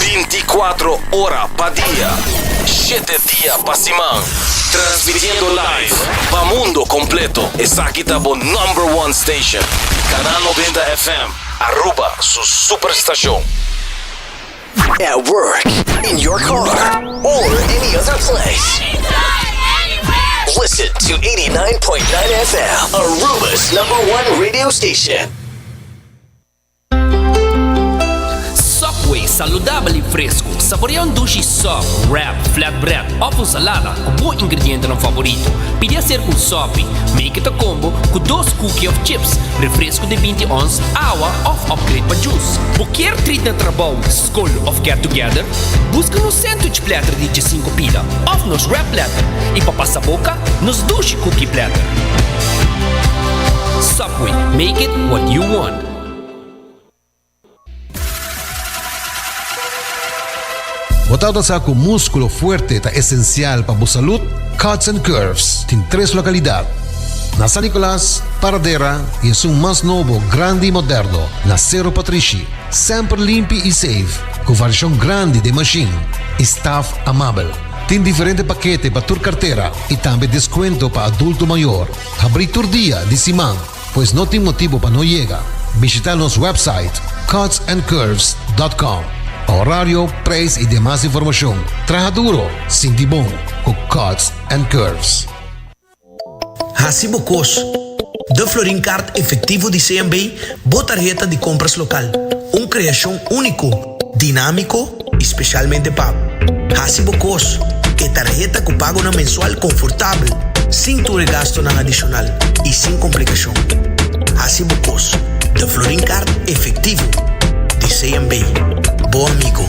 Binti kuatro ora pa dia, shete dia pa siman. Transmitiendo live pa mundo completo. Esaki ta bo number one station. Canal noventa FM, Aruba su superstacion. At work, in your car, or any other place. Anytime, anywhere. Listen to 89.9 FM, Aruba's number one radio station. Subway, saludabel i fresku. Saborea un dushi sub, wrap, flatbread òf un salada ku bo ingredientenan favorito. Pidi aser ku un sopi, make it a combo, ku dos kuki òf chips, refresku di binti ons, awa òf upgrade pa jus. Bo kier trit na trabou, skol òf get together? Buska nos sandwich platter di djesinku pida òf nos wrap platter i pa pasa boka, nos dushi kuki platter. Subway, make it what you want. Bo ta nosa cu musculo fuerte ta esencial pa bo salud? Cuts and Curves tin tres localidad, na San Nicolas, Paradera y esun mas nobo, grandi y moderno, na Cerro Patrishi. Semper limpi y safe, cu variacion grandi den machine y staff amabel. Tin diferente pakete pa tur cartera y tambe descuento pa adulto mayor. Habrí tur dia di siman. Pues no tin motibo pa no yega. Bishita nos website cutsandcurves.com pa horario, prijs y demas informacion. Traha duro, sinti bon cu Cuts and Curves. Haci bo cos! Da Florin Kaart Efectivo di CMB bo tarheta di compras local, un creacion unico. dinámiko i spesialmente pa hasi bo kos ku e tarheta ku pagonan mensual konfortabel, sin tur e gastunan adishonal i sin komplikashon. Hasi bo kos den Florin Kaart efektivo di CMB, bo amigo.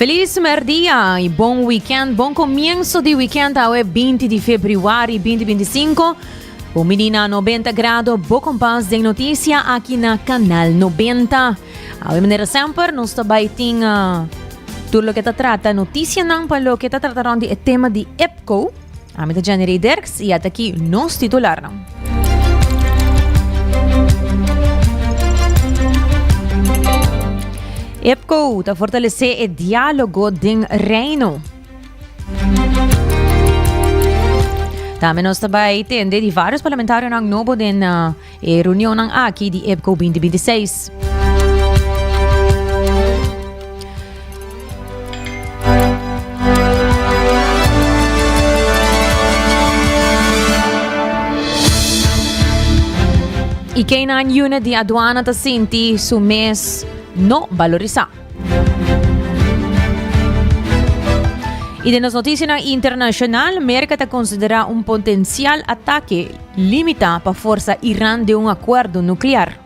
Felis merdia i bon weekend, bon komienso di weekend awe 20 di febrüari 2025. Bo mini na 90 grado bo kompas den notisia aki na Kanal 90. Awe manera semper nos ta bai tin tur loke ta trata notisianan pa loke ta trata rònt di e tema di EPCO. Ami ta Jenny Derks y at aki nos titularnan. EPCO ta fortalece e diálogo den Reino. Tambe nos ta bay tende di varios parlamentarionan nobo den E reunionnan aki di EPCO binti binti i seis. E K-9 Unit di Aduana ta sinti su mes no balorisá. I den nos notisianan internashonal, Merka ta konsiderá un potensial atake limitá pa forsa Iran den un akuerdo nuklear.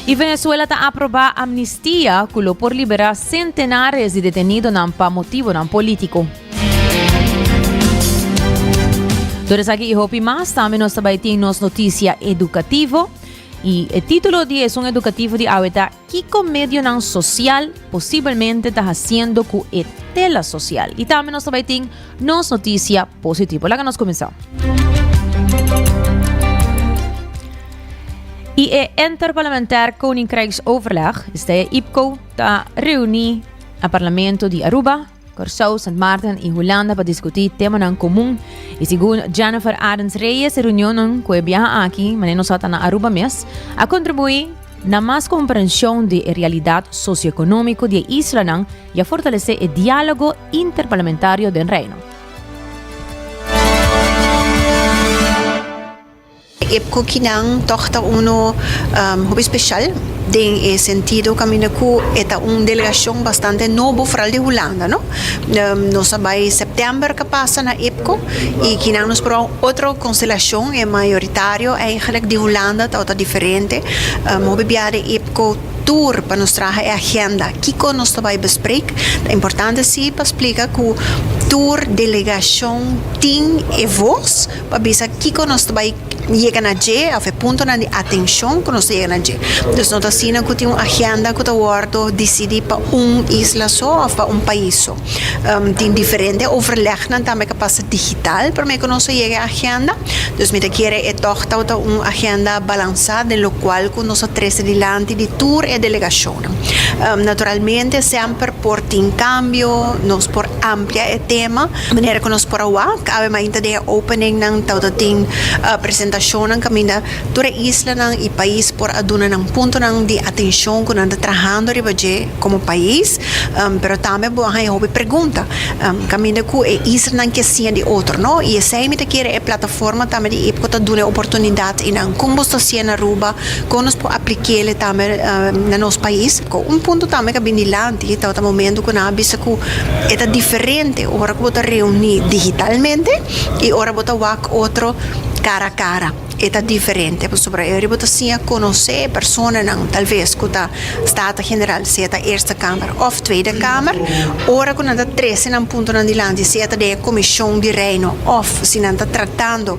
I Venezuela ta aprobá amnistia ku lo por liberá sentenares di detenidonan pa motibonan polítiko. Tur esaki i hopi mas tambe nos ta bai tin nos notisia edukativo. Y e titulo di esun educativo di awe ta Kico medionan social posibelmente ta haciendo cu e tela social? Y tambe nos ta bay tin nos noticia positivo. Laga nos cuminsa. I e Interparlamentair Koninkrijksoverleg, is de IPCO, ta reuni a Parlamento di Aruba Kòrsou, Sant Maarten i Hulanda pa diskutí temanan komun. I segun Jennifer Adams Reyes e reunionnan ku e biaha aki, mane nos a ta na Aruba mes, a kontribuí na mas komprenshon di e realidat sosioekonómiko di e islanan i a fortalesé e diálogo interparlamentario den Reino. E cookinan tog ta unu hopi special den e sentido caminda cu e ta un delegacion bastante nobo foral di Hulanda no. Nos a bay september ca pasa na IPCO y kinan nos proba un otro constelacion e mayoritario eigenlijk di Hulanda ta ota diferente. Hopi bia den IPCO tur pa nos traha e agenda kico nos ta bay bespreek. Ta importante si pa splica cu tur delegacion tin e voz. pa bisa kiko nos ta bai yega na dje of e puntonan di atenshon ku nos ta yega na dje. Dus no ta asina ku tin un agenda ku ta wòrdu disidí pa un isla so of pa un pais so. Um tin diferente overlegnan tambe ku pasa digital promé ku nos ta yega e agenda. Dus mi ta kere e tòg ta wòrdu un agenda balansá den lokual ku nos ta trese dilanti di tur e delegashonnan. Um naturalmente semper por tin kambio, nos por amplia e tema. Manera ku nos por a wak, kab'e mainta den e openingnan tabata tin presentashonnan kaminda tur e islanan i pais por a duna nan puntonan di atenshon ku nan ta trahando riba dje komo pais, pero tambe bo a haña hopi pregunta kaminda ku e islanan ke siña di otro, no? I esei mi ta kere e plataforma tambe di Ipco ta duna e oportunidat i nan kon bo sta siña na Aruba, kon nos por aplik'e tambe na nos pais, ku un punto tambe ku a bin dilanti. Tin e tabata momento cu nan a bisa cu e ta diferente ora cu bo ta reuni digitalmente y ora bo ta wak otro cara a cara. E ta diferente pasobra e bo ta siña conoce e personanan tal vez cu ta Staten General, sea ta Eerste Kamer of Tweede Kamer. Ora cu nan ta trece nan puntonan dilanti, sea ta den e Commision di Reino of si nan ta tratando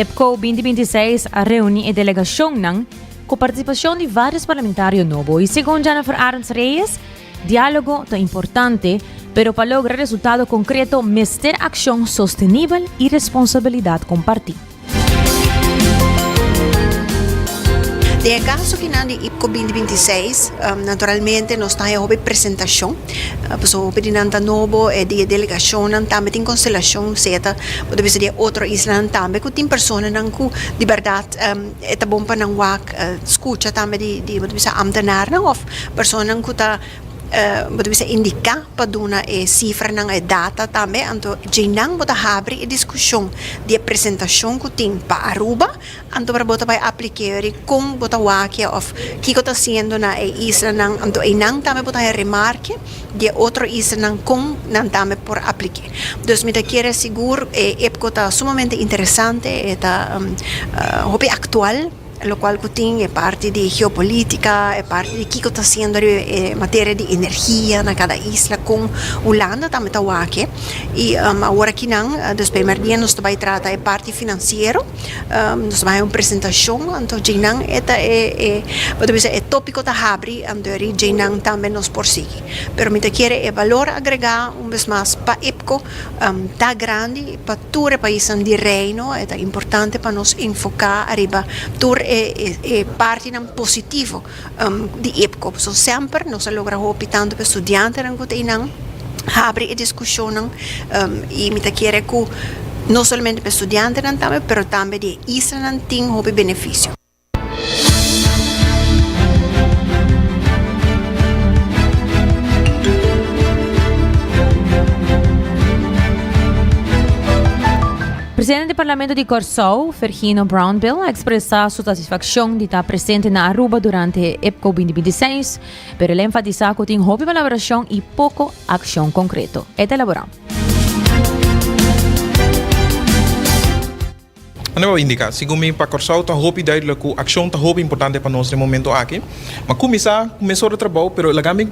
Epco binti binti seis a reuni e delegacionnan cu participacion di varios parlamentario nobo y segun Jennifer Arends Reyes, dialogo ta importante pero pa logra resultado concreto mester accion sostenibel y responsabilidad comparti. Den e kaso ki nan di IPCO binti binti seis naturalmente nos ta e hopi presentashon pasobra hopi di nan ta nobo e di e delegashonnan tambe tin konstelashon seta bo ta bisa di e otro islanan tambe ku tin personanan ku di bèrdat e ta bon pa nan wak skucha tambe di bo ta bisa amtenarnan òf personanan ku ta. Bo ta bisa indiká pa duna e sifranan, e data tambe, anto djeinan bo ta habri e diskushon di e presentashon ku tin pa Aruba, anto bo ta bai aplik'é yori kon bo ta wakia òf kiko ta hasiendo na e islanan, anto einan tambe bo ta haña remarke di e otro islanan kon nan tambe por aplik'é. Dus mi ta kere sigur e EPCO ta sumamente interesante, e ta hopi aktual. locual cu tin e parti di geopolitica, e parti di kico ta haciendo riba e materia di energia na cada isla con Hulanda tambe ta wak y awor aki nan despues di e merdia nos ta bay trata e parti financiero nos ta bay haci un presentacion anto djey nan e ta e e pasobra bisa e topico ta habri anto djey nan tambe nos por sigui pero mi ta kere e valor agrega un bes mas pa IPCO. ta grandi pa tur e paisnan di Reino, e ta importante pa nos enfoká ariba tur e e partinan positivo di IPCO. Pasobra semper nos a logra hopi tantu pa e studiantenan ku ta einan habri e diskushonnan i mi ta kere ku no solamente pa e studiantenan tambe pero tambe di e islanan tin hopi benefisio. Presidente di Parlamento di Kòrsou, Virginio Brownbill, a ekspresá su satisfakshon di ta presente na Aruba durante Epco binti binti seis, pero el a enfatisá ku tin hopi kolaborashon i poko akshon konkreto. E ta elaborá. Anto bo indica, segun mi pa Corsou ta hopi duidelijk cu accion ta hopi importante pa nos den momento aki. Mi a cuminsa cu mesor de trabou, pero laga mi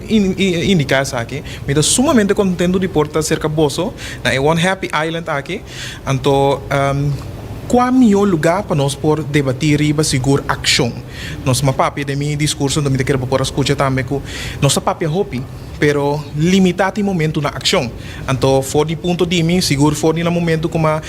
indica esaki, mi ta sumamente contento di por ta cerca boso na e one happy island aki. Anto, cua miyo lugar pa nos por debati riba sigur accion? Nos a papia den mi discurso, anto mi ta kere bo por a scucha tambe cu nos a papia hopi. Pero limitá tin momentu na akshon. Anto for di punto di mi, sigur for di nan momentu ku m'a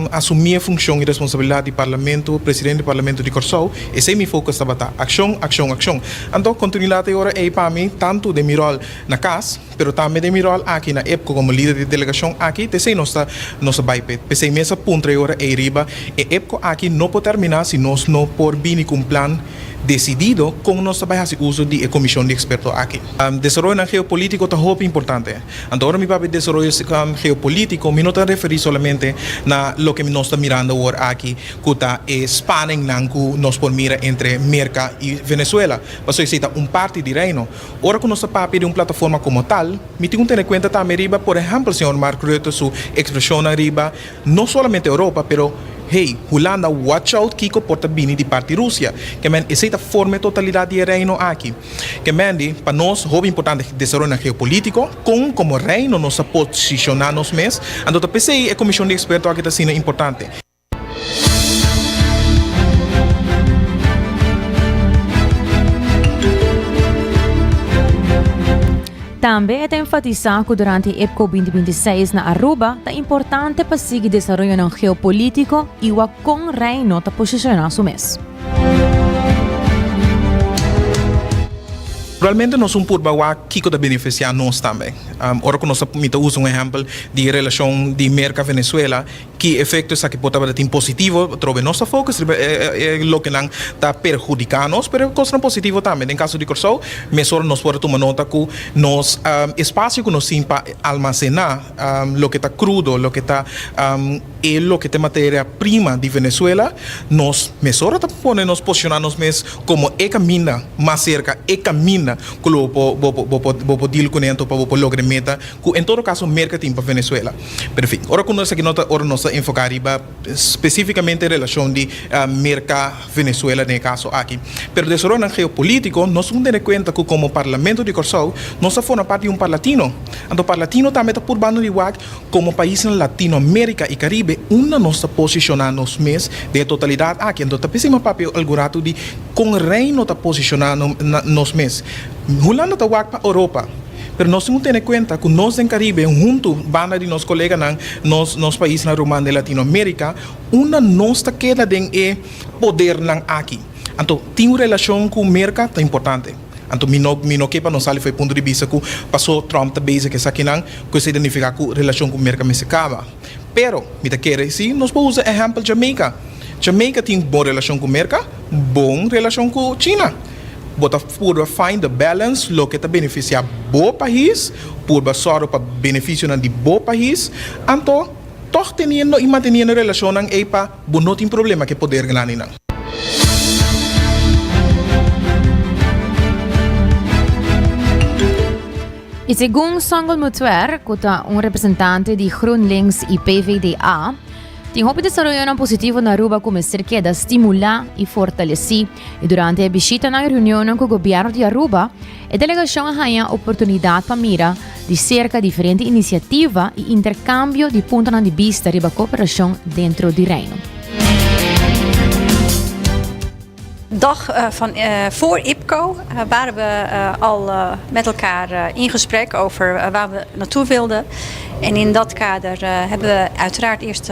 asumí e funshon i responsabilidat di Parlamento, Presidente di Parlamento di Kòrsou, esei mi focus tabata, akshon, akshon, akshon. Anto kontinuidat e ora ei pa mi, tantu den mi ròl na kas, pero tambe den mi ròl aki na epco komo lider di delegashon aki, t'esei nos ta nos ta bai p'e. P'esei mi a sa puntra e ora ei riba, e epco aki no por terminá si nos no por bini ku un plan, desidido kon nos ta bai hasi uso di e komishon di eksperto aki. Desaroyonan geopolitiko ta hopi importante. Anto ora mi papia di desaroyo geopolitiko mi no ta referí solamente na loke nos ta mirando awor aki ku ta e spaningnan ku nos por mira entre Merka i Venezuela, pasobra esei ta un parti di Reino. Ora ku nos ta papia di un plataforma komo tal, mi tin ku tene kuenta tambe riba, por ehèmpel, señor Mark Rutte su ekspreshonnan riba, No solamente Europa pero hey Hulanda watch out kiko por ta bini di parti Rusia ke men esei ta forma e totalidat di e reino aki ke men di pa nos hopi importante desaroyonan geopolitiko kon komo reino nos ta posishoná nos mes anto ta p'esei e komishon di eksperto aki ta asina importante. Tambe e ta enfatisá ku durante e Epco binti binti seis na Aruba ta importante pa sigui desaroyonan geopolítiko i wak kon Reino ta posishoná su mes. Realmente nos un purba wak kiko ta benefisiá nos tambe. Ora ku nos ta mita usa un ehèmpel di e relashon di Merka-Venezuela. Ki efekto esaki por tabata tin positivo? Atrobe nos ta fokus riba e loke nan ta perhudiká nos, pero e kosnan positivo tambe. Den kaso di Kòrsou, mes ora nos por a tuma nota ku nos espasio ku nos tin pa almasená loke ta krudo, loke ta e loke ta e materia prima di Venezuela, nos mes ora ta pone nos posishoná nos mes komo e kaminda mas serka, e kaminda ku lo bo por dil kuné anto pa bo por logra e meta. Ku en todo kaso Merka tin pa Venezuela. Pero en fin, ora ku no esaki no ta ora nos ta enfoká riba spesifikamente relashon di Merka Venezuela den e kaso aki. Pero desaroyonan geopolítiko nos un tene kuenta ku komo Parlamento di Kòrsou nos a forma part di un parlatino. Anto parlatino tambe ta por banda di wak komo paisnan Latinoamérika i Karibe unda nos ta posishoná nos mes den e totalidat aki. Anto ta p'esei m'a papia algun ratu di kon rei no ta posishoná nos mes. Hulanda ta wak pa Oropa. Pero nos tin cu tene cuenta cu nos den Caribe hunto banda di nos coleganan nos nos paisnan ruman den Latinoamerica unda nos ta keda den e podernan aki. Anto tin un relacion cu Merca ta importante. Anto mi no mi no ke pa no sali for e punto di bista cu paso Trump ta bezig esakinan cu esei ta nifica cu relacion cu Merca mester caba. Pero mi ta kere si nos por usa ehempel Jamaica. Jamaica tin bon relacion cu Merca, bon relacion cu China. Bo ta Purba find the balance, loke ta beneficia bo pahis, purba sorgo pa beneficionan di bo pahis, anto tog teniendo y manteniendo relacionnan ey pa bo no tin problema cu e poder grandenan. Y segun Songel Mutuer, cu ta un representante di GroenLinks y PvdA, tin hopi desaroyonan positivo na Aruba cu mester keda stimula y fortaleci. I durante e bishitanan i reunionnan ku gobièrnu di Aruba, e delegashon a haña oportunidat pa mira di serka diferente inisiativa i interkambio di puntonan di bista riba kooperashon dentro di Reino. Dag van vóór IPCO ware we al met elkaar in gesprek over waar we naartoe wilden en in dat kader hebben we uiteraard eerst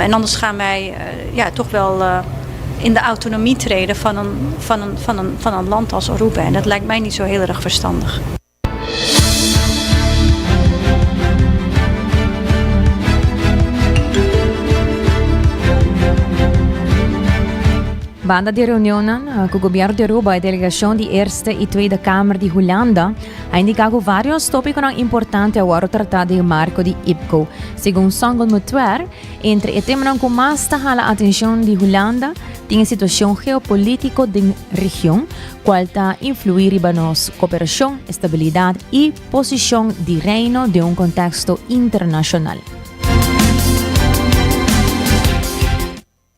En anders gaan wij ja, toch wel in de autonomie treden van een, van een, van een, van een land als Aruba. En dat lijkt mij niet zo heel erg verstandig. Banda di reunionnan cu Gobierno di Aruba y delegacion di Eerste y Tweede Kamer di Hulanda a indica cu varios topiconan importante a worde trata den marco di IPCO. Segun Songel Mutwer, entre e temanan ku mas ta hala atenshon di Hulanda tin e situashon geopolítiko den region, kual ta influí riba nos koperashon, estabilidat i posishon di Reino den un konteksto internashonal.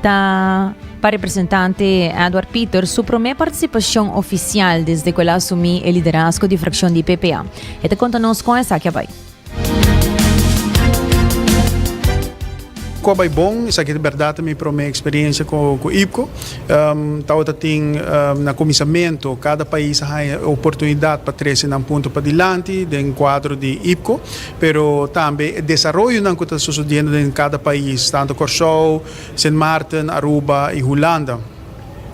Ta pa representante Edward Pieter su promé participacion oficial desde cu el a asumi e liderazgo di fraccion di PPA. E ta conta nos con esaki a bay. Cu a bay bon, esaki ta berdad ta mi promé experiencia cu IPCO. Tabata tin na cuminsamentu, cada pais a haya e oportunidad pa trece nan punto padilanti den cuadro di IPCO. pero tambe e desaroyonan ku ta sosodiendo den kada pais, tantu Kòrsou, Sint Maarten, Aruba i Hulanda.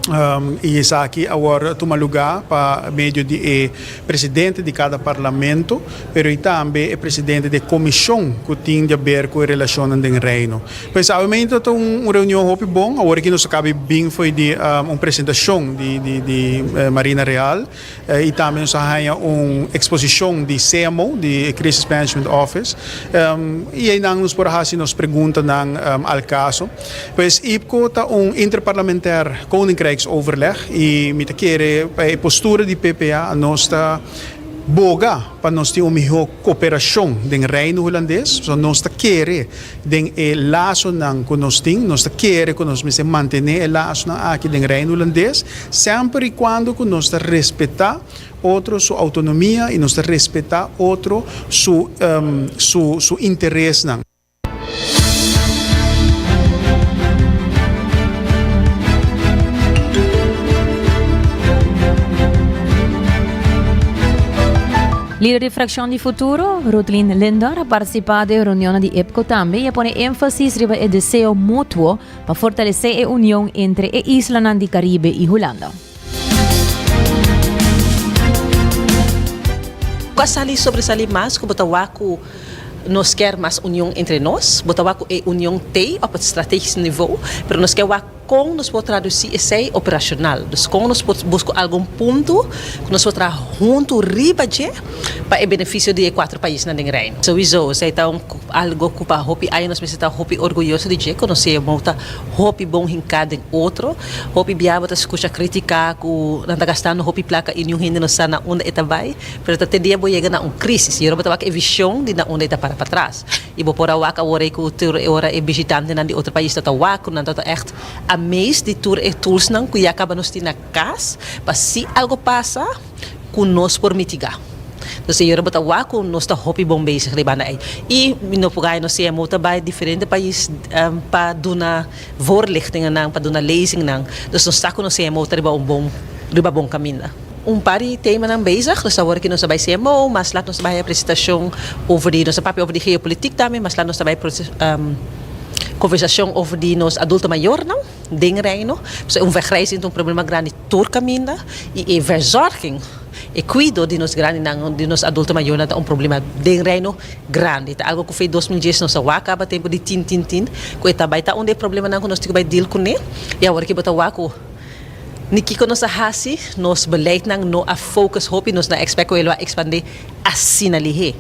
I esaki awor a tuma lugá pa medio di e presidente di kada parlamento, pero i tambe e presidente di e komishon ku tin di a ber ku e relashonnan den Reino. Pensablemente tabata un reunion hopi bon, awor aki nos a kabe bin fo'i di un presentashon di Marina Real. Y tambe nos a haña un exposicion di CMO, di e Crisis Management Office, y eynan nos por a haci nos preguntanan al caso. Pues IPCO ta un Interparlamentair Koninkrijksoverleg y mi ta kere pa e postura di PPA nos ta boga pa nos tin un miho cooperacion den Reino Hulandes, nos ta kere Den e lasonan ku nos tin, nos ta kere ku nos mester mantené e lasonan aki den Reino Hulandes, semper i kuando ku nos ta respetá otro su outonomia i nos ta respetá otro su su su interesnan. Lider di frakshon di Futuro, Ruthlyn Linder, a partisipá den reunionnan di EPCO tambe i a pone énfasis riba e deseo mutuo pa fortalesé e union entre e islanan di Karibe i Hulanda. Kua sali sobresalí mas ku bo ta wak ku nos kèr mas union entre nos? Bo ta wak ku e union tei òf pa strategisk nivo, pero nos ke wak Kon nos por tradusi esei operashonal? Dus kon nos por buska algun punto ku nos por traha huntu riba dje pa e benefisio di e kuater paisnan den Reino? Souizo, esei ta un algo ku pa hopi aña nos mester ta hopi orguyoso di dje, ku nos siñor Mou ta hopi bon hinká den otro. Hopi bia bo ta skucha kritiká ku nan ta gastando hopi plaka i niun hende no sa na unda e ta bai, pero ta te dia bo yega na un krísis. Yora bo ta wak e vishon di na unda e ta para patras. I bo por a wak awor ei ku tur e ora e bishitantenan di otro pais tabata wak, ku nan tabata ègt amazed di tur e toolsnan ku ya kaba nos tin na kas pa si algu pasa ku nos por mitigá. Entonces e ora bo ta wak ku nos ta hopi bon bezig riba banda ei. I mi no por gana nos CMO ta bai diferente pais pa duna voorlichtingennan, pa duna lezingnan. Dus nos sa ku nos CMO ta riba un bon riba bon kaminda. Un par di temanan bezig, nos ta wor aki nos ta bai CMO, mas laat nos ta bai haya presentacion over di, nos ta papia over di geopolitiek tambe, mas laat nos ta bai conversacion over di nos adulto mayornan den Reino, pasobra e un wegreizing ta un problema grandi tur caminda y e verzorging, e cuido di nos grandinan, di nos adulto mayornan ta un problema den Reino grandi, ta algo cu fei dos mil dies nos a wak caba tempo di tin tin tin, cu e ta bai ta un di e problemanan cu nos tin cu bai deal cune y awor aki bo ta wak cu. Di kiko nos a hasi, nos beleidnan no a focus hopi, nos na expect cu e lo a expande asina lihé.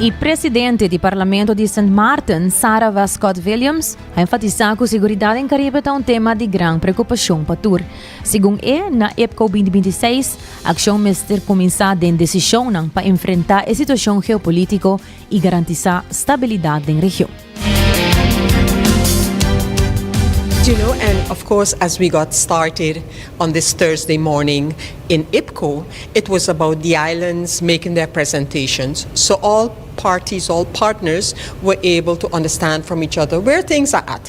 E presidente di Parlamento di Sint Maarten, Sarah Westcott-Williams, a enfatisa cu seguridad den Caribe ta un tema di gran preocupacion pa tur. Segun e, na EPCO binti binti seis, akshon mester kuminsá den desishonnan pa enfrentá e situashon geopolítiko i garantisá stabilidat den region. You know and of course as we got started on this Thursday morning in IPCO it was about the islands making their presentations so all parties all partners were able to understand from each other where things are at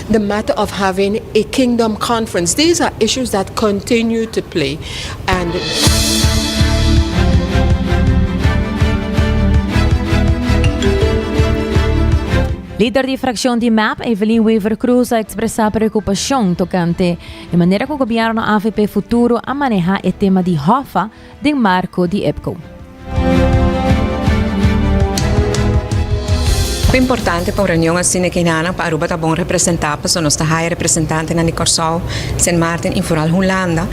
the matter of having a kingdom conference these are issues that continue to play and. Lider di frakshon di mep, Evelyn Wever Croes a ekspresá preokupashon tokante e manera ku gobièrnu avp Futuro a manehá e tema di hòfa, den marco di EPCO. Ta importante pa un reunion asina ki nan pa Aruba ta bon representa paso nos ta haya representantenan di Corsou, Sint Maarten y vooral Hulanda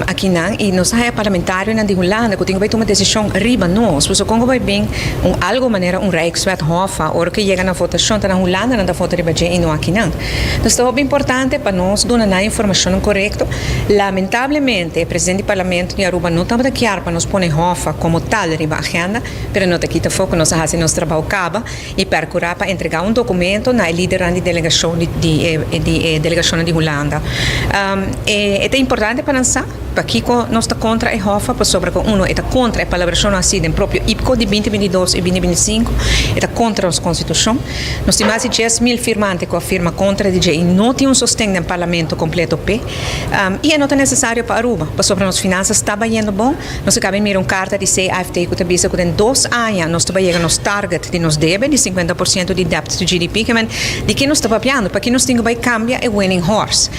aki nan y nos ta haya parlamentarionan di Hulanda cu tin cu bay tuma decision riba nos paso con cu bay bin un algo manera un Rijkswet hof a ora cu yega na votacion ta na Hulanda nan ta vota riba dje y no aki nan. Nos ta hopi importante pa nos duna nan e informashonnan korekto. Lamentablemente, e presidente di Parlamento di Aruba no tabata kier pa nos pone Hoffa komo tal riba agenda, pero no ta kita for ku nos a hasi nos trabou kaba i perkurá pa entregá un dokumento na e lidernan di delegashon di e delegashonnan di Hulanda. E ta importante pa nan sa. Pakiko nos ta kontra e hòf a? Pasobra ku uno e ta kontra e palabracionnan así den propio IPCO di binti binti dos i binti binti sinku, e ta kontra nos Konstitushon. Nos tin mas di dies mil firmante ku a firma kontra di dje i no tin un sosten den Parlamento kompleto p'e. I e no ta nesesario pa Aruba, pasobra nos finansas ta bayendo bon. Nos a kaba di mira un karta di CIFT ku ta bisa ku den dos aña nos ta bai yega nos target di nos debe di sinkuenta por siento di debt to GDP. Kimen di ke nos ta papiando? Pakiko nos tin ku bai kambia e winning horse?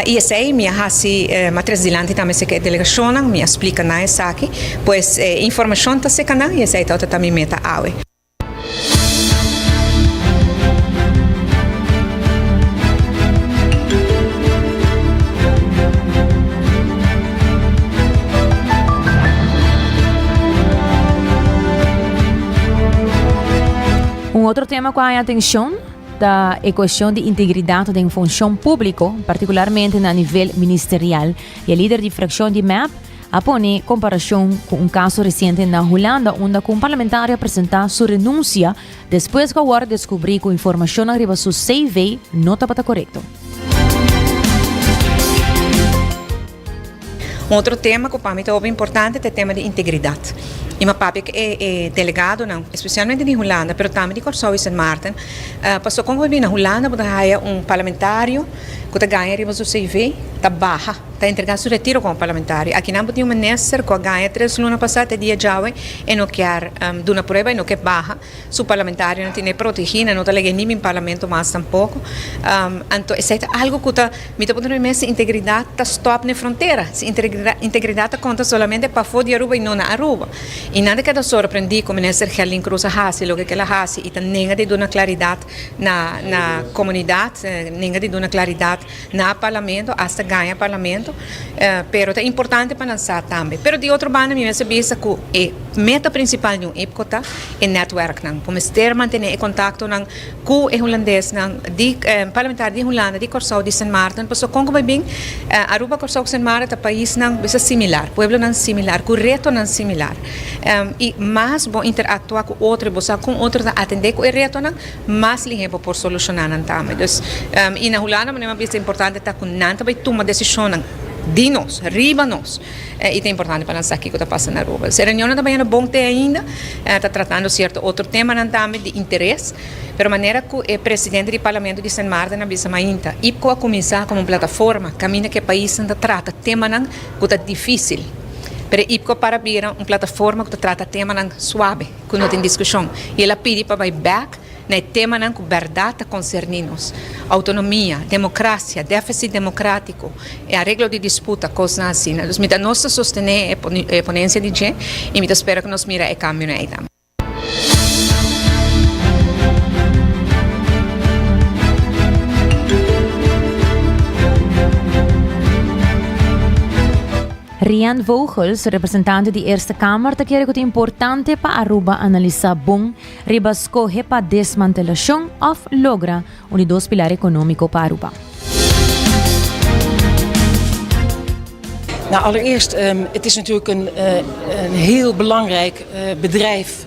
I esei mi a hasi, ma tres dilanti tambe seka e delegashonnan, mi a splika nan esaki. Pues e informashon ta seka nan i esei ta ota ta mi meta awe. Un otro tema ku a haña atenshon. ta e cuestion di integridad den funcion publico, particularmente na nivel ministerial, y e lider di fraccion di mep a pone comparacion cu un caso reciente na Hulanda unda cu un parlamentario a presenta su renuncia despues cu a worde descubri cu informacionnan riba su CV no tabata corecto. Un otro tema cu pa mi ta hopi importante ta e tema di integridad. I mi a papia cu e e delegadonan, especialmente di Hulanda, pero tambe di Corsou y Sint Maarten, pasobra con bo bin na Hulanda bo ta haya un parlamentario cu ta gana riba su CV, ta baha, ta entrega su retiro como parlamentario. Aki nan bo tin un minister cu a gana tres luna pasa te dia djawe e no kier duna prueba, e no ke baha. Su parlamentario no tin e protegí nan, no ta lege ni bin parlamento mas tampoko. Anto esei ta algu ku ta, mi ta puntra mi mes si integridat ta stòp na e frontera, si integridat ta konta solamente pafó di Aruba i no na Aruba. I nan ta keda sorprendí ku minister Gelin Cruz a hasi loke kel a hasi i ta nenga di duna klaridat na komunidat, nenga di duna klaridat Na parlamento asta gaña parlamento pero ta importante pa nan sa tambe pero di otro banda mi mester bisa ku e meta prinsipal di un IPCO ta e netwerknan ku mester mantené e kontaktonan ku e hulandesnan di parlamentario di Hulanda di Kòrsou di Sint Maarten pasobra kon ku bai bin Aruba Kòrsou ku Sint Maarten ta paisnan bisa similar pueblonan similar ku retonan similar i mas bo interaktua ku otro i bo sa kon otro ta atendé ku e retonan Mas lihé bo por solushoná nan tambe. Dus, i na Hulanda bo neman bista importante ta ku nan ta bai tuma desishonnan di nos, riba nos. I ta importante pa nan sa kiko ta pasa na Aruba. Dus e reunionnan ta bañando bon te ainda, ta tratando sierto otro temanan tambe di interes, pero manera ku e presidente di Parlamento di Sint Maarten a bisa mainta, IPCO a kuminsá komo un plataforma kaminda ku e paisnan ta trata temanan ku ta difísil, pero e IPCO a para bira un plataforma ku ta trata temanan suabe. ku no tin diskushon i el a pidi pa bai bèk na e temanan ku bèrdat ta konserní nos, outonomia, demokrasia, dèfisit demokratiko, e areglo di disputa, kosnan asina. Dus mi ta nos ta sostené e ponensia di dje i mi ta spera ku nos mira e kambionan ei tambe. Rian Vogels, representante di Eerste Kamer ta kere ku ta importante pa Aruba analisá bon riba skohe pa desmantelashon òf logra un di dos pilar ekonómiko pa Aruba. Nou allereerst het is natuurlijk een heel belangrijk bedrijf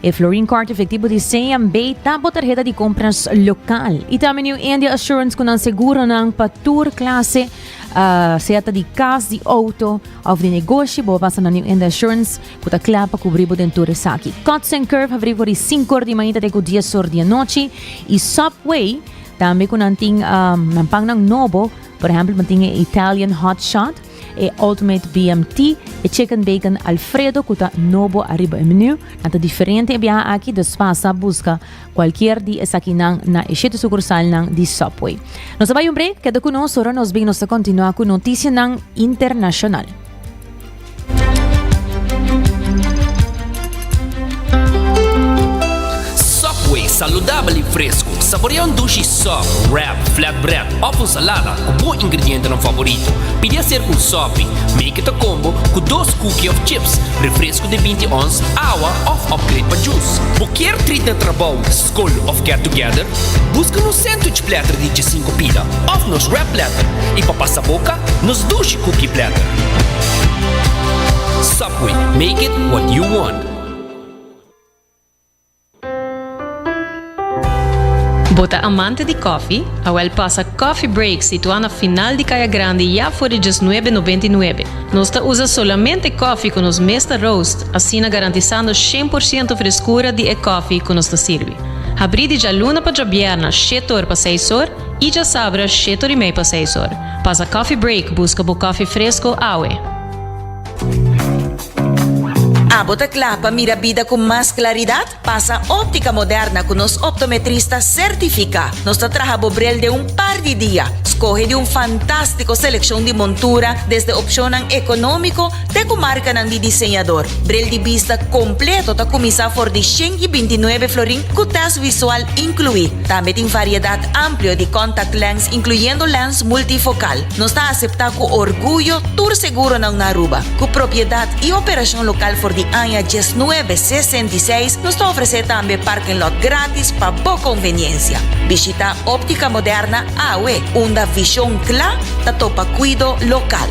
E Florin Card efectivo di CNB ta bo tarheta di compras local y tambe ni un India Assurance cu nan seguro nan pa tur clase, uh, sea ta di cas, di auto of di negoshi, bo basa na New India Assurance cu ta cla pa cubri bo den tur esaki. Cuts and Curve habri for di 5 or di mañita te cu 10 or di anochi y Subway tambe cu nan tin um, nan pan nan nobo, por ejemplo, nan tin e Italian Hot Shot, E Ultimate BMT, e Chicken Bacon Alfredo cu ta nobo ariba e menu, nan ta diferente e biaha aki dus pasa a busca cualkier di esakinan na e shete sucursalnan di Subway. Nos a bai un break, keda cu nos, ora nos bin nos ta continua cu noticianan internacional. Subway, saludabel i fresku. Saborea un dushi sòp, wrap, flatbread òf un salada ku bo ingredientenan favorito. Pidi a ser ku un sòpi, make it a combo, ku dos kuki òf chips, refresku di binti ons, awa òf opgrade pa jus. Bo kier trit na trabou, skol òf get together? Buska nos sandwich platter di djesinku pida òf nos wrap platter, i pa pasa boka, nos dushi kuki platter. We make it what you want. Bo ta amante di kòfi? Awèl pasa Coffee Break situá na final di Kaya Grandi ya for di djes nuebe nobenta i nuebe. Nos ta usa solamente kòfi ku nos mes ta roast, asina garantisando shen por siento freskura di e kòfi ku nos ta sirbi. Habrí di djaluna pa djabièrna shete or pa seis or i djasabra shete or i mei pa seis or. Pasa Coffee Break buska bo kòfi fresko awe. Abo ta kla pa mira bida ku mas klaridat? Pasa Óptica Moderna ku nos optometrista sertifiká. Nos ta traha bo brel den un par di dia. Skohe di un fantástiko selekshon di montura, desde opshonnan ekonómiko te ku markanan di diseñador. Brel di bista kompleto ta kuminsá for di shen i binti nuebe florin ku tèst visual inkluí. Tambe tin variedat amplio di contact lens, inkluyendo lens multifokal. Nos ta aseptá ku orguyo tur seguronan na Aruba. Ku propiedat i operashon lokal for di aña diesnuebe sesenta i seis, nos ta ofresé tambe parking lot gratis pa bo konveniensia. Bishitá Optica Moderna awe, unda vishon kla ta topa kuido lokal.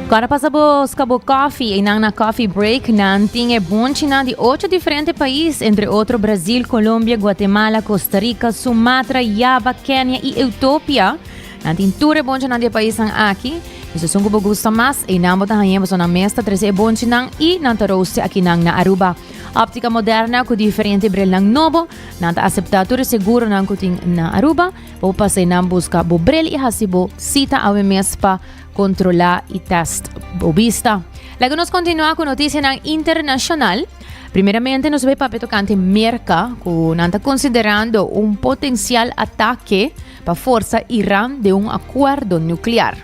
Kor a pasa bo ska bo kòfi, einan na Coffee Break nan tin e bonchinan di ocho diferente pais, entre otro Brazil, Colombia, Guatemala, Costa Rica, Sumatra, Java, Kenia i Eutopia. Nan tin tur e bonchinan di e paisnan aki. Nos esun ku bo gusta mas, einan bo ta hañ'é paso nan mes ta trese e bonchinan i nan ta roost'é akinan na Aruba. Optica Moderna ku diferente brelnan nobo, nan ta aseptá tur e seguronan ku tin na Aruba. Bo pasa einan buska bo brel i hasi bo sita awe mes pa Kontrolá i tèst bo bista. Laga nos kontinuá ku notisianan internashonal. Primeramente nos bai papia tokante Merka ku nan ta konsiderando un potensial atake pa forsa Iran den un akuerdo nuklear.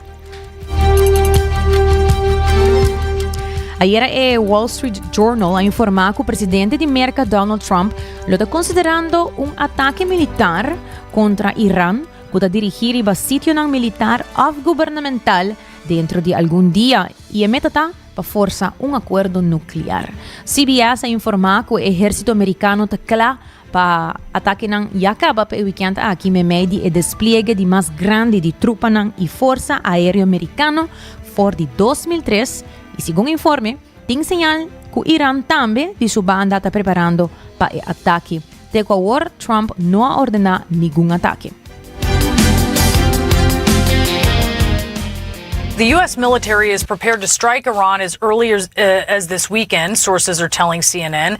Ayera e Wall Street Journal a informá ku presidente di Merka Donald Trump lo ta konsiderando un atake militar kontra Iran ku ta dirigí riba sitionan militar òf gubernamental dentro di algun dia i e meta ta pa forsa un akuerdo nuklear. CBS a informá ku e ehérsito amerikano ta kla pa atakenan ya kaba pa e wikènt aki meimei di e despliege di mas grandi di trupanan i forsa aéreo merikano for di dos mil tres i segun informe Tin señal cu Iran tambe di su banda ta preparando pa e ataki. Te cu awor Trump no a ordena ningun ataki. The US military is prepared to strike Iran as early as this weekend, sources are telling CNN.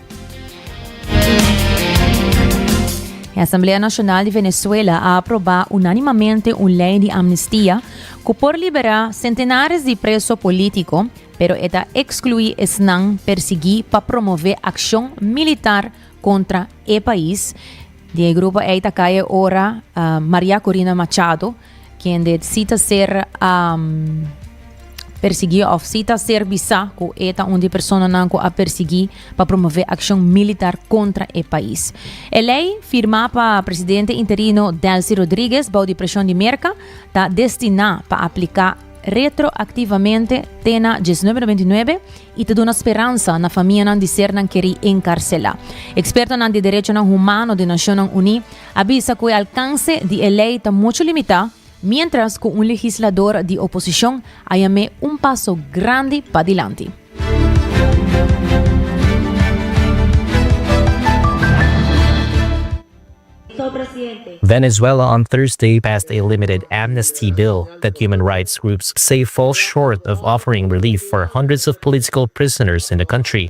E Asamblea Nacional di Venezuela a aproba unanimamente un ley di amnistia cu por libera centenares di preso politico, pero e ta exclui esnan persegui pa promove accion militar contra e pais. Di e grupo ey ta cay e ora Maria Corina Machado, kende si ta ser um, persiguí of si ta ser bisa ku e ta un di personanan ku a persiguí pa promove akshon militar kontra e pais. E lei, firmá pa presidente interino Delcy Rodriguez bou di preshon di Merka, ta destiná pa apliká retroaktivamente te na 1999 i ta duna speransa na famianan di ser nan kerí enkarselá. Ekspertonan di derechonan humano di Nashonnan Uní a bisa ku e alkanse di e lei ta muchu limitá, miéntras ku un legislador di oposishon a yam'é un paso grandi pa dilanti. Venezuela on Thursday passed a limited amnesty bill that human rights groups say falls short of offering relief for hundreds of political prisoners in the country.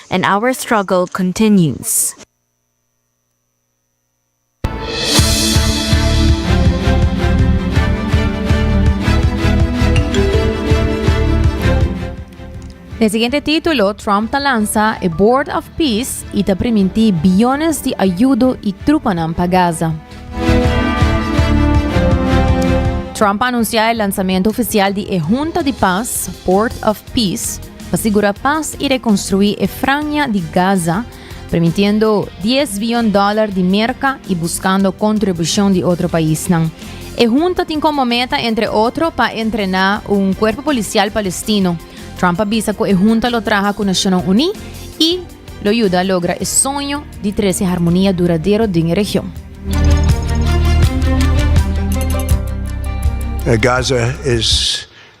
And our struggle continues. Den siguiente título, Trump ta lansa e Board of Peace y ta primintí biyones di ayudo y trupanan pa Gaza. Trump a anunciá e lansamento oficial di e Hunta di Pas, Board of Peace, Pa sigura pas i rekonstruí e Franja di Gaza, permitiendo dies biyon dòler di Merka i buskando kontribushon di otro paisnan. E hunta tin komo meta, entre otro, pa entrená un kuerpo polisial palestino. Trump a bisa ku e hunta lo traha ku Nashonnan Uní i lo yuda logra e soño di trese harmonia duradero den e region. Gaza es.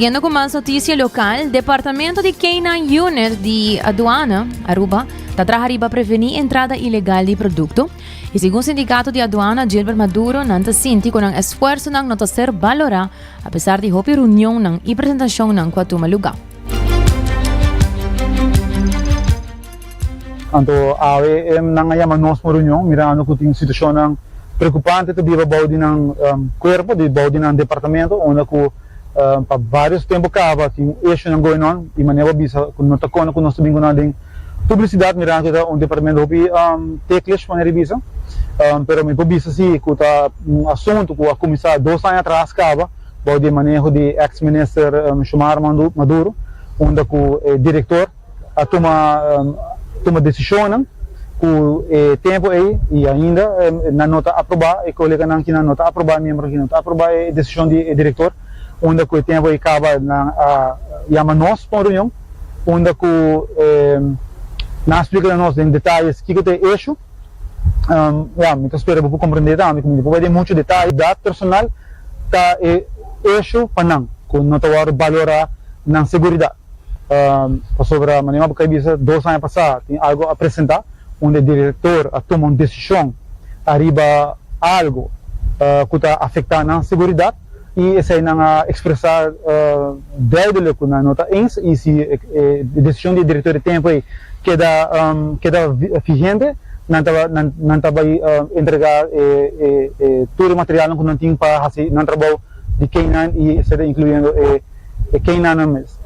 Siguiendo cu mas noticia local, Departamento di K9 Unit di Aduana, Aruba, ta traha riba preveni entrada ilegal di producto, Y segun Sindicato di Aduana Gilbert Maduro nan ta sinti cu nan esfuersonan no ta ser valora a pesar di hopi reunionnan y presentacionnan cu a tuma lugar. Anto AOEM nan a yama nos pa un reunion mirando cu tin situacionnan preocupante ta biba bou di nan cuerpo, di bou di nan departamento unda cu pa varios tempo caba tin un hechonan goenon y manera bo a bisa cu no ta con cu nos ta bin cu nan den Publicidad mirando cu ta un departamento hopi teklish pone riba eso, pero mi por bisa si cu ta un asunto cu a cuminsa dos aña atras caba bou di e maneho di ex Minister Xiomara Maduro, unda cu e director a tuma tuma decisionnan cu e tempo ey y ainda nan no ta aproba e coleganan kinan no ta aproba e miembronan kinan no ta aproba e decision di e director, unda cu e tempo ey caba nan a yama nos pa un reunion. unda ku nan splika na nos den detalles kiko ta e eshu. Ya, mi ta spera bo por komprendé tambe ku mi no por bai den muchu detalles. Sigiridad personal ta e eshu pa nan ku no ta wòrdu balorá nan sigiridad. Pasobra manera bo kai bisa dos aña pasá tin algu a presentá unda e direktor a tuma un desishon ariba algu ku ta afektá nan sigiridad. y esey nan a expresa duidelijk cu nan no ta eens y si e decision di e director di tempo ey keda keda vigente nan ta nan ta bay entrega tur e materialnan cu nan tin pa haci nan trabou di keynan y eseda incluyendo e e keinannan mes.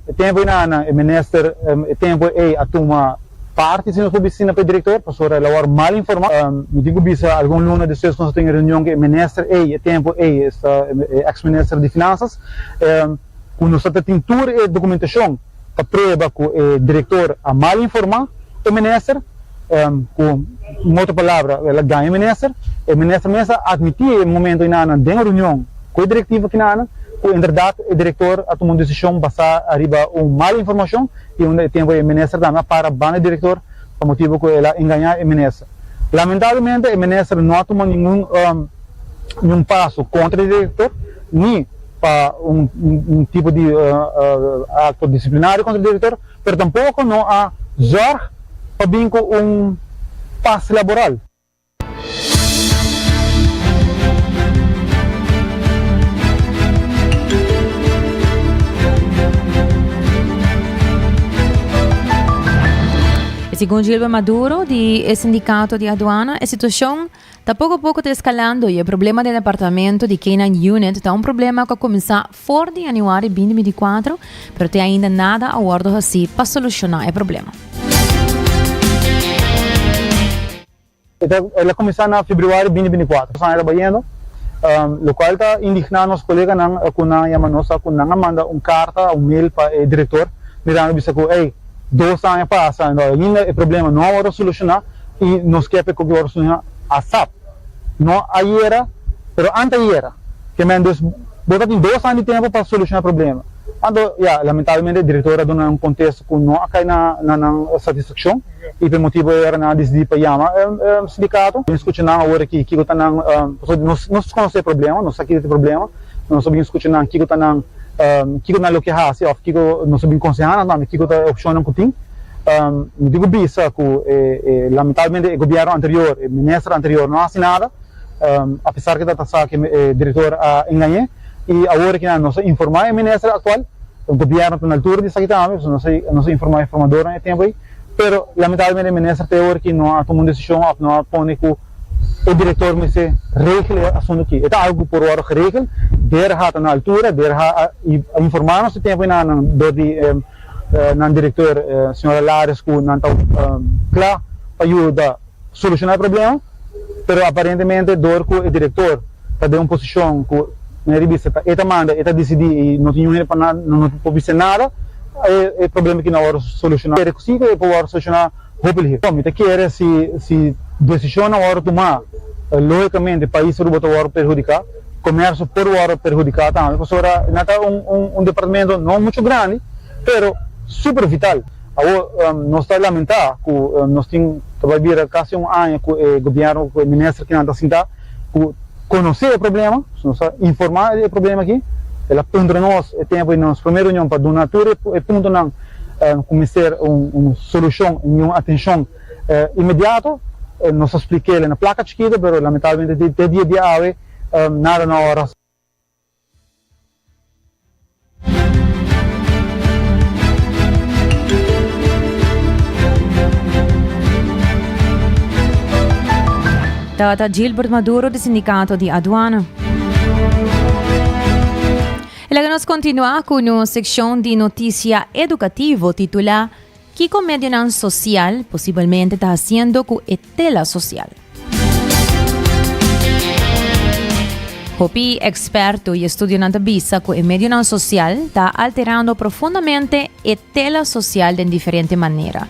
E tempu ei nan e minister e tempu ei a tuma parti si nos por bisina pa e director pasobra el a wòrdu mal informá. Mi tin ku bisa algun luna despues ku nos a tene reunion ku e minister ei e tempu ei e ex minister di finansas ku nos tabata tin tur e dokumentashon. ta prueba cu e director a mal informa e minister, cu otro palabra el a gaña e minister, e minister mes a admiti e momento enanan den reunion cu e directiva kinanan cu inderdat e director a tuma un decision basa ariba un mal informacion y unda e tempo e minister tambe a para banda e director pa motibo cu el a engaña e minister. Lamentablemente e minister no a tuma ningun paso contra e director ni. pa un un tipo di akto disiplinario kontra e direktor, pero tampoko no a zòrg pa bin ku un pas laboral. Segun Gilbert Maduro di e sindikato di aduana e situashon Ta poko poko ta eskalando y e problema den e apartamento di K-9 Unit ta un problema cu a cuminsa for di Januari binti binti cuatro, pero te ainda nada a wordo haci pa soluciona e problema. El a cuminsa na Februari binti binti cuatro, nos anja ta bayendo, locual ta indigna nos coleganan cu nan a yama nos cu nan a manda un carta, un mail pa e director mirando bisa cu ey, Dos aña pasa en ainda e problema no a wòrdu solushoná i nos ke p'e kokier wòrdu solushoná asap. No ayera, pero anteayera. Ke mèndos bo ta tin dos aña di tempu pa solushoná e problema. Anto ya, lamentablemente e direktor a duna nan un kontesto ku no a kai na na nan satisfakshon i p'e motibu ei ora nan a disidí pa yama e e sindikato. Bin skucha nan awor aki kiko ta nan pasobra nos nos konosé e problema, nos sa kiko ta e problema. Nos ta bin scucha nan kico ta nan kico nan lo ki haci of kico nos ta bin conseha nan tambe kico ta e opcionnan cu tin. Mi tin cu bisa cu lamentablemente e gobierno anterior, e minister anterior no haci nada apesar cu ta ta sa cu e director a engañe y awor aki nan nos a informa e minister actual, e gobierno ta na altura di esaki tambe pasobra nos a nos a informa e formadornan e tempo ey pero lamentablemente e minister te awor aki no a tuma un decision of no a pone cu. E direktor mester regel e asuntu aki. E ta algu ku por wòrdu geregel der hata na altura, der ha a informá nos e tempu i nan dor di nan direktor, señora Lares, ku nan ta kla pa yuda solushoná e problema, pero aparentemente dor ku e direktor ta den un posishon ku na e revista ta e ta manda, e ta disidí i no tin niun hende pa nan, nan no por bis'é nada, e problema aki no a wòrdu solushoná. Kere ku si ku e por wòrdu solushoná. Hopelijk. Mi ta kere si si desishonnan wòrdu tumá, lógikamente pais Aruba ta wòrdu perhudiká, komersio por wòrdu perhudiká tambe, pasobra nan ta un un un departamento no muchu grandi, pero súper vital. Awor, nos ta lamentá ku nos tin ta bai bira kasi un aña ku e gobièrnu, ku e minister kinan ta sintá, ku konosé e problema, nos tabata informá di e problema akí, el a puntra nos e tempu di nos promé reunion pa duna tur e puntonan. Ku mester un solushon i un atenshon inmediato. Nos a spliká el na plaka chikito, pero lamentablemente te dia di awe nada no a wòrdu. Tata Gilbert Maduro di Sindikato di Aduana. E laga nos kontinuá ku nos sekshon di notisia edukativo titulá Kiko medionan sosial posibelmente ta hasiendo ku e tela sosial? Hopi eksperto i estudionan ta bisa ku e medionan sosial ta alterando profundamente e tela sosial den diferente manera.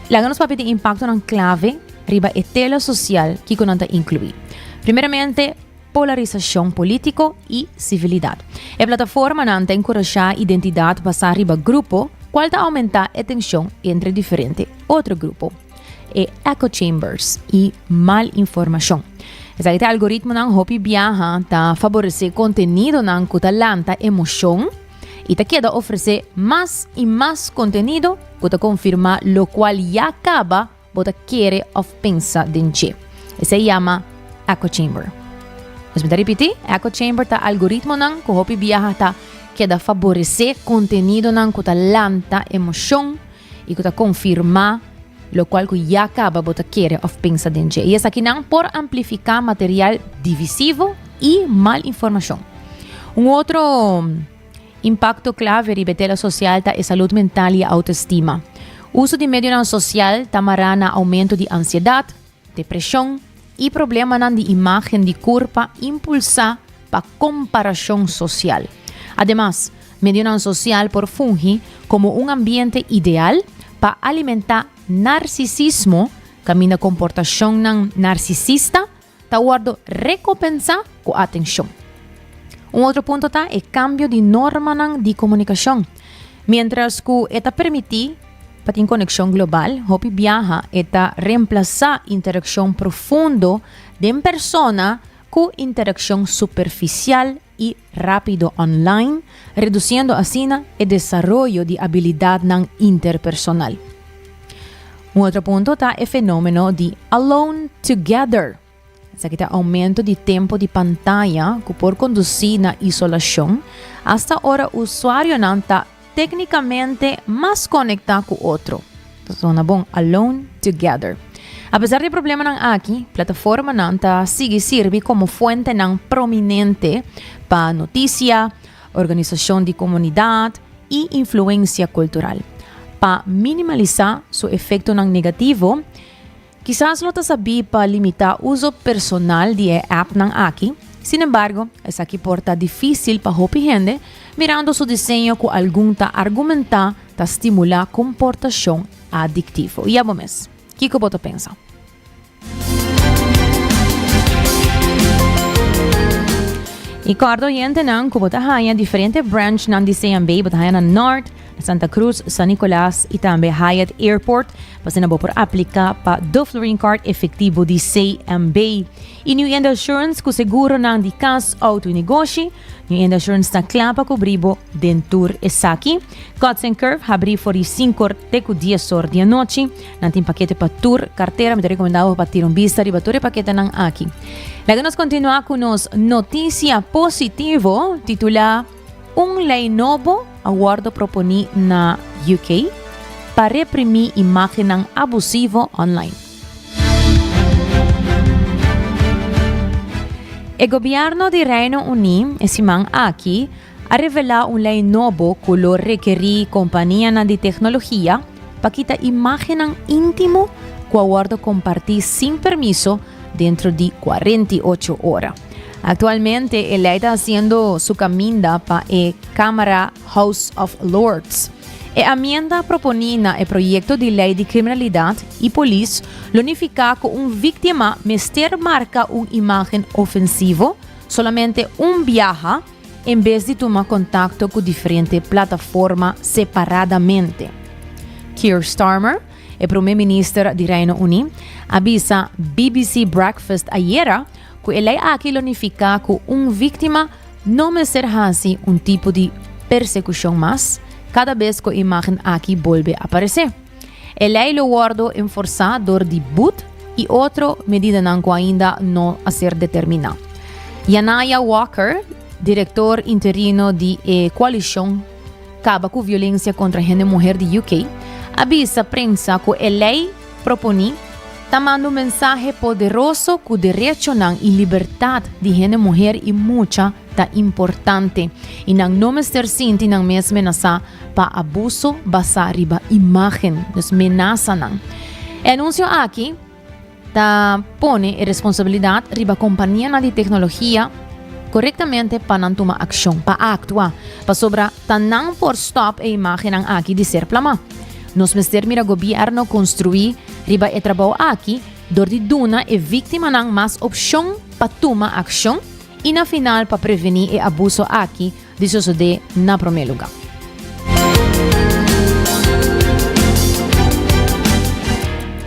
Laga nos papia di impaktonan klave riba e tela sosial kiko nan ta inkluí. Primeramente, polarisashon polítiko i sivilidat. E plataformanan ta enkurashá identidat basá riba grupo, kual ta oumentá e tenshon entre diferente otro grupo. E echo chambers i mal informashon. Esaki ta algoritmonan hopi biaha ta favoresé kontenidonan ku ta lanta emoshon i ta keda ofresé mas i mas kontenido ku ta konfirmá lokual ya kaba Bo ta kere òf pensa den dje. Esei yama echo chamber. Nos bin ta ripití, echo chamber ta algoritmonan ku hopi biaha ta keda faboresé kontenidonan ku ta lanta emoshon i ku ta konfirmá lokual ku ya kaba bo ta kere òf pensa den dje. I esakinan por amplifiká material divisivo i mal informashon. Un otro. Impakto klave riba e tela sosial ta e salud mental i e outoestima. Uso di medionan sosial ta mará na oumento di ansiedat, depreshon i problemanan di imágen di kurpa impulsá pa komparashon sosial. Ademas, medionan sosial por fungi komo un ambiente ideal pa alimentá narsisismo, kaminda komportashonnan narsisista, ta wòrdu rekompensá ku atenshon. Un otro punto ta e kambio di normanan di komunikashon. Miéntras ku e ta permití pa tin konekshon global, hopi biaha e ta remplasá interakshon profundo den persona ku interakshon superfisial i rápido online, redusiendo asina e desaroyo di abilidadnan interpersonal. Un otro punto ta e fenómeno di alone together. Esaki ta aumento di tempu di pantaya ku por kondusí na isolashon, asta ora usuarionan ta Téknikamente mas konektá ku otro. Ta sona bon, alone, together. Apesar di e problemanan aki, plataformanan ta sigui sirbi komo fuentenan prominente pa notisia, organisashon di komunidat i influensia kultural. Pa minimalisá su efektonan negativo, Kisas lo ta sabí pa limitá uso personal di e appnan aki, sin embargo, esaki por ta difísil pa hopi hende, mirando su diseño ku algun ta argumentá ta stimulá komportashon adiktivo. I abo mes, kiko bo ta pensa? I kòrda oyentenan ku bo ta haña diferente branchnan di CMB, bo ta haña na Nort, Santa Cruz, San Nicolas y tambe Hyatt Airport, pasina bo por aplica pa Duflurine Card efectivo di CMB. Y New Enda Assurance cu seguronan di cas, auto y negoshi, New Enda Assurance ta cla pa cubri bo den tur esaki. Cuts and Curve habri for di sincor te cu diesor di anochi. Nan tin pakete pa tur cartera, mi ta recomenda bo pa tira un bista riba tur e paketenan aki. Laga nos continua cu nos noticia positivo titula. Un lei nobo a wòrdu proponí na UK pa reprimí imágennan abusivo online. E gobièrnu di Reino Uní e siman aki a revelá un lei nobo ku lo rekerí kompanianan di teknologia pa kita imágennan íntimo ku a wòrdu kompartí sin permiso dentro di kuarenta i ocho ora. Actualmente e lei ta haciendo su caminda pa e Camara House of Lords. E amienda proponi na e proyecto di lei di criminalidad y polis lo nifica cu un victima mester marca un imagen ofensivo solamente un biaha en bes di tuma contacto cu diferente plataforma separadamente. Keir Starmer, e Prome Minister di Reino Uni, a bisa BBC Breakfast ayera Ku e lei aki lo nifiká ku un víktima no mester hasi un tipo di persekushon mas kada bes ku e imágen aki bolbe aparesé. E lei lo wòrdu enforsá dor di bud i otro medidanan ku ainda no a ser determiná. Yanaya Walker, direktor interino di e koalishon Kaba ku Violensia kontra Hende Muher di UK, a bisa prensa ku e lei Proponí, Ta manda un mensahe poderoso ku derechonan i libertat di hende muher i mucha ta importante i nan no mester sinti nan mes menasá pa abuso basá riba imágen, dus menasanan. E anunsio aki ta pone e responsabilidat riba kompanianan di teknologia korektamente pa nan tuma akshon, pa aktua, pasobra ta nan por stòp e imágennan aki di ser plamá. Nos mester mira Gobierno construí riba e trabao aki dor di duna e víctimanan mas opcion pa tuma accion y na final pa prevení e abuso aki di sosodé na promé lugar.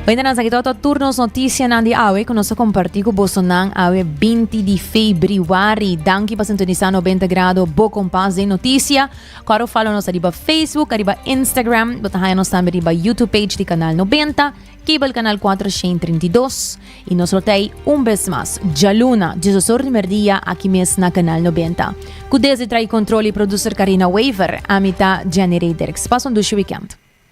Ointa nan sa ki toto tur nos noticianan di awe cu nos a compartí cu bosonan awe binti di Febriwari. Danki pa sintonisa Nobenta Grado, bo compas den noticia. Coro follow nos ariba Facebook, ariba Instagram, bo ta haña nos tambe riba YouTube page di Kanal Nobenta, Cable Kanal Kuater Shin Treinta i Dos, i nos lo ta ei un bes mas djaluna diesosor di merdia aki mes na Kanal Nobenta. Ku desdi tra'i kontrol i produser Karina Wever, ami ta Jenny Redericks. Pas un dushi wikènt.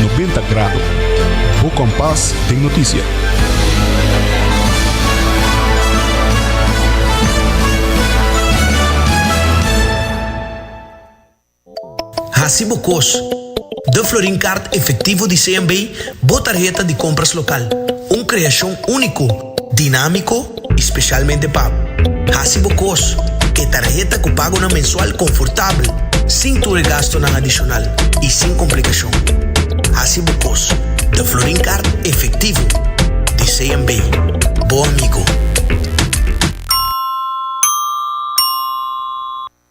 Noventa Grado, bo kompas den noticia. Hasi bo kos. Den Florin Kaart Efektivo di CMB, bo tarheta di kompras lokal, un kreashon úniko. dinámiko i spesialmente pa hasi bo kos ku e tarheta ku pagonan mensual konfortabel, sin tur e gastunan adishonal i sin komplikashon. Hasi bo kos den Florin Kart efektivo di CMB, bo amigo.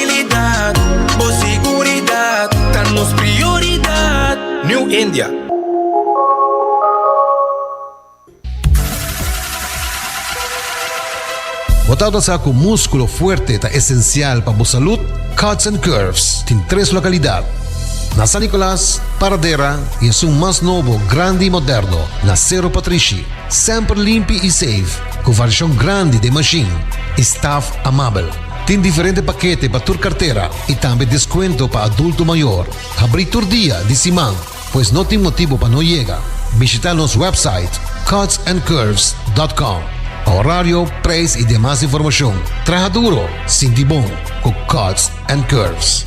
Tranquilidad, bo seguridad ta nos prioridad. New India. Bo ta ota sa ku múskulo fuerte ta esensial pa bo salud? Cuts and Curves tin tres lokalidad, na San Nicolas, Paradera i esun mas nobo, grandi i moderno, na Cerro Patrishi. Semper limpi i safe, ku variashon grandi den mashin i staf amabel. Tin diferente pakete pa tur kartera i tambe deskuento pa adulto mayor. Habrí tur dia di siman, pues no tin motibu pa no yega. Bishitá nos wèpsait cutsandcurves.com pa orario, preis i demas informashon. Traha duro, sinti bon ku Cuts and Curves!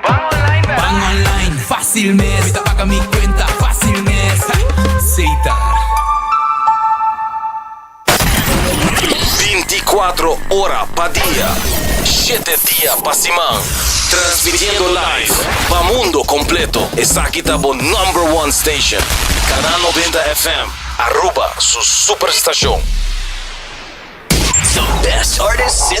Ban online mes. Ban online fácil mes. Mi ta paga mi cuenta fácil mes. Seita. Binti kuatro ora pa dia, shete dia pa siman. Transmitiendo live pa mundo completo. Esaki ta bo number one station. Canal Noventa FM, Aruba su superstacion. The best artists in the.